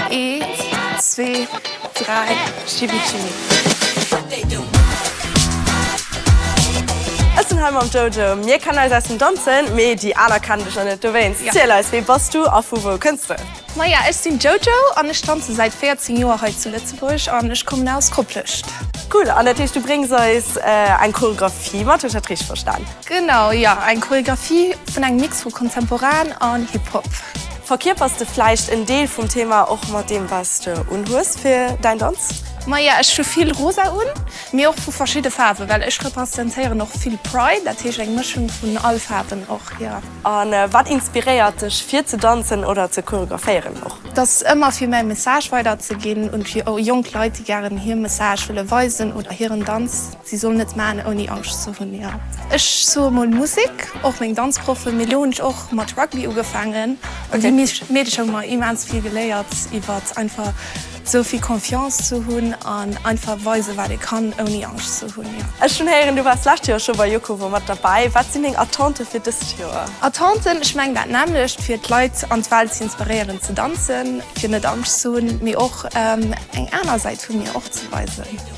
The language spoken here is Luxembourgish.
Eent, zwee, dräi, Jibi Jibi. Ech sinn hei mam Jojo. Mir kennen eis aus dem Danzen, mee déi aner kennen dech nach net. Dowéinst, ziel eis, wee bass du a vu wou kënns de? Maja, ech sinn d'Jojo an ech danze säit 14 Joer hei zu Lëtzebuerg an ech kommen aus Koplescht. Cool, an dat heescht, du bréngs eis eng Choreographie mat, hu ech dat richteg verstan? Genau, jo, eng Choreographie vun engem Mix vu Kontemporan an Hip-Hop. Verkierpers de vläicht en Deel vum Thema och mat deem wats de unhues fir däin Danz? Maja ech hu vill rosa un, mee och vu verschidde Faarwen, well ech representéieren och vill Pride, dat heescht eng Mëschung vun all Faarwen och jo. An wat inspiréiert dech fir ze danzen oder ze choreographéieren och? Dass ëmmer fir mäi Message weider ze ginn un fir jonk Leit déi gären hier Message wëlle weisen oder hiren Danz. Si sollen et maan ouni Angscht ze hun, jo. Ech soe mol Musik, och meng Danzproffen, mee lo hun ech och mat Rugby ugefaangen an di Meedecher hun mer immens vill geléiert iwwer einfach sou vill Confiance ze hun an einfach weisen wat ee kann ouni Angscht ze hun, jo. Ech hun héieren du wars lescht Joer scho bei Jukovo mat derbäi, wat sin deng Attenten fir dest Joer? Attenten? Ech mengen dat nämmlecht, fir d'Leit an d'Welt ze inspiréieren ze danzen, fir net Angscht ze hun, mee och eng aaner Säit vu mir och ze weisen.